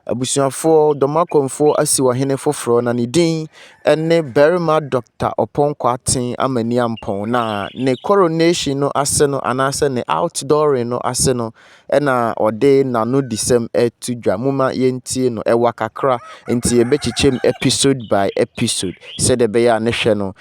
Abusuafoɔ, Dɔmakɔmfoɔ asiw ɔhene foforɔ na ne din ne Barima Dɔkta Ɔpɔn Kwarteng Amaniampong na ne coronation no ase no anaasɛ ne outdooring no ase no na ɔde n'anodisɛm reto dwa. Momma yɛntie no. Ɛwa kakra nti yɛbɛkyekyɛm episode by episode sɛdeɛ ɛbɛyɛ a ne hwɛ no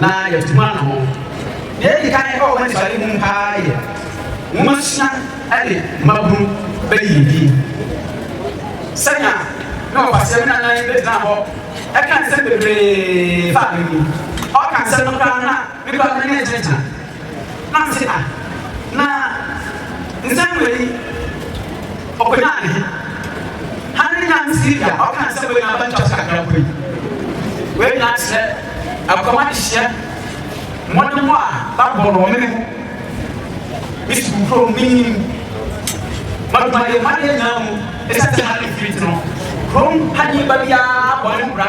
na yɛatum ano ho. Nea edi kan a ɛwɔ w'anisoade ho paa yɛ nwomasua ne mmabunu bɛyɛ din. Sɛnea me ɔkwasea nana yi bɛgyina hɔ ɛka nsɛm bebree faa me ho yi, ɔka nsɛm no koraa na me koraa m'ani agyinagyina. Na mese, Ah, na nsɛm wei ɔkɔnyaa ne he? Hane ne Nyame Sylvia a ɔka nsɛm wei nyinaa ba ntwa so kakra mpo yi? Wei nyinaa kyerɛ ɛkɔm adehyeɛ, mmɔdemmɔ a babɔ no wɔ me ne ho, me sukuu kurom, me nyini mu, m'adwumayɛ mu, m'adeɛ nyinaa mu. Esiane sɛ Hane mfiri nti no, kurom ha nipa biara bɔ ne ho bra.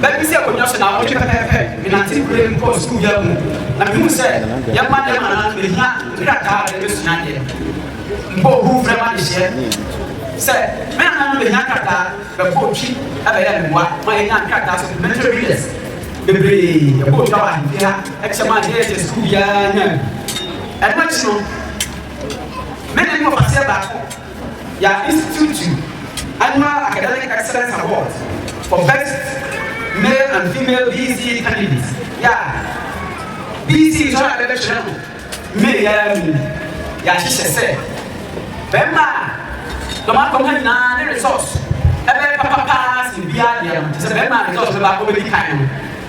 Bɛ bi si akonnwa so na wɔtwe pɛpɛɛpɛ menante mprem kɔɔ sukuu dan mu na mehuu sɛ yɛn mma ne yɛn mmanana no behia nkrataa a yɛde besua adeɛ. Mpo ohu frɛ m'adehyeɛ sɛ me nana no behia krataa bɛfɔ twi ɛbɛyɛ mmoa ma yɛnya nkrataa supplementary readers bebree ɛbɔ twa wɔ ahemfie ha ɛkyɛ ma yɛyɛ sɛ sukuu biara nya bi. Ɛno akyi no, me ne me papa seɛ baako Ya Institutu Annual Academic Excellence Award for Best Male and Female BC Candidates, Ya BC nsɔre a bɛbɛkyerɛ no May yi ara mu. Yɛahyehyɛ sɛ bɛmma a dɔm akɔ ha nyinaa ne resɔs ɛbɛyɛ papa paa sen biara deɛ no, kyerɛ sɛ bɛmma a resɔs bɛba akɔbɛdi kan no.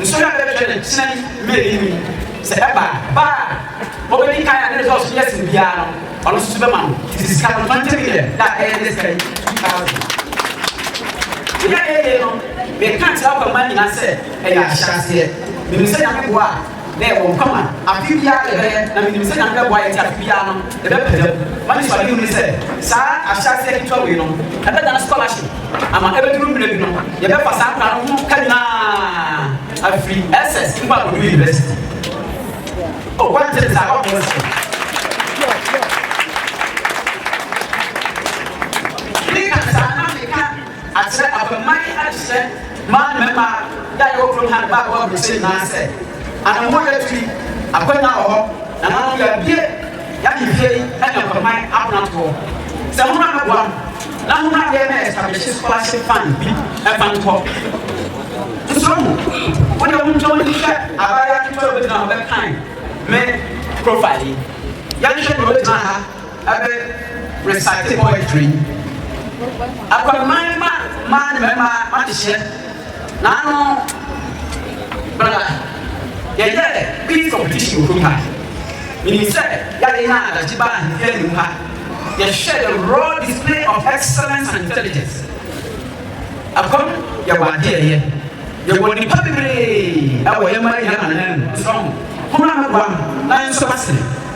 Nso na bɛhwɛ no kyena yi mmerɛ yi mu, sɛ ɛba a, ba a ɔbɛdi kan a ne dɔɔso yɛ sen biara no, ɔno nso so bɛma no tete sika no twenty million, da a ɛyɛ ne sika yi two thousand. Deɛ a ɛyɛ yei no, meka kyerɛ akwamma nyinaa sɛ ɛyɛ ahyɛaseɛ. Menim sɛ Nyame boa a, na yɛwɔ nkwa ma afe biara yɛbɛyɛ, na menim sɛ Nyame bɛboa yɛn nti afe biara no, Ɛbɛpagya mu. W'anisoadehu ne sɛ saa ahyɛaseɛ ketewa wei no ɛbɛdane scholarship ama ɛbɛduru mmerɛ bi no yɛbɛfa saa akwadaa no ho ka nyinaa afiri SS nkɔ akɔdu university. Oh, what is that? What is it? Think and Akyerɛ afei mma yi adehyeɛ mmaa ne mmarima yɛ a yɛwɔ kurom ha ne bɛ a yɛwɔ aburokyire nyinaa sɛ, anammɔn yɛ atu yi, akwanya wɔ hɔ, nananom yɛabue yɛn ahemfie yi ne afɛmman apono toɔ sɛ mommra mmɛboa no na mommra mmɛyɛ mɛ establishing scholarship fund bi mfa nkɔ nsoro mu. Wo deɛ wo ntwa w'ani hwɛ abaayewa ketewa a ɔbɛgyina hɔ bɛkan me profile yi, yɛnhwɛ deɛ ɔbɛgyina ha. Ɛbɛ recite poetry yi. Akwammaa ne ma mmaa ne mmarima mahyehyɛ n'ano bra yɛyɛ peace competition wɔ kurom ha. Menim sɛ yɛade no a adagye ba ahemfie anim ha yɛhwɛ the raw display of excellence and intelligence. Akwam yɛwɔ adeɛ yɛ yɛwɔ nipa bebree ɛwɔ yɛn mma yɛn anan mu nso ho ho na mɛboa no na yɛn nso asene.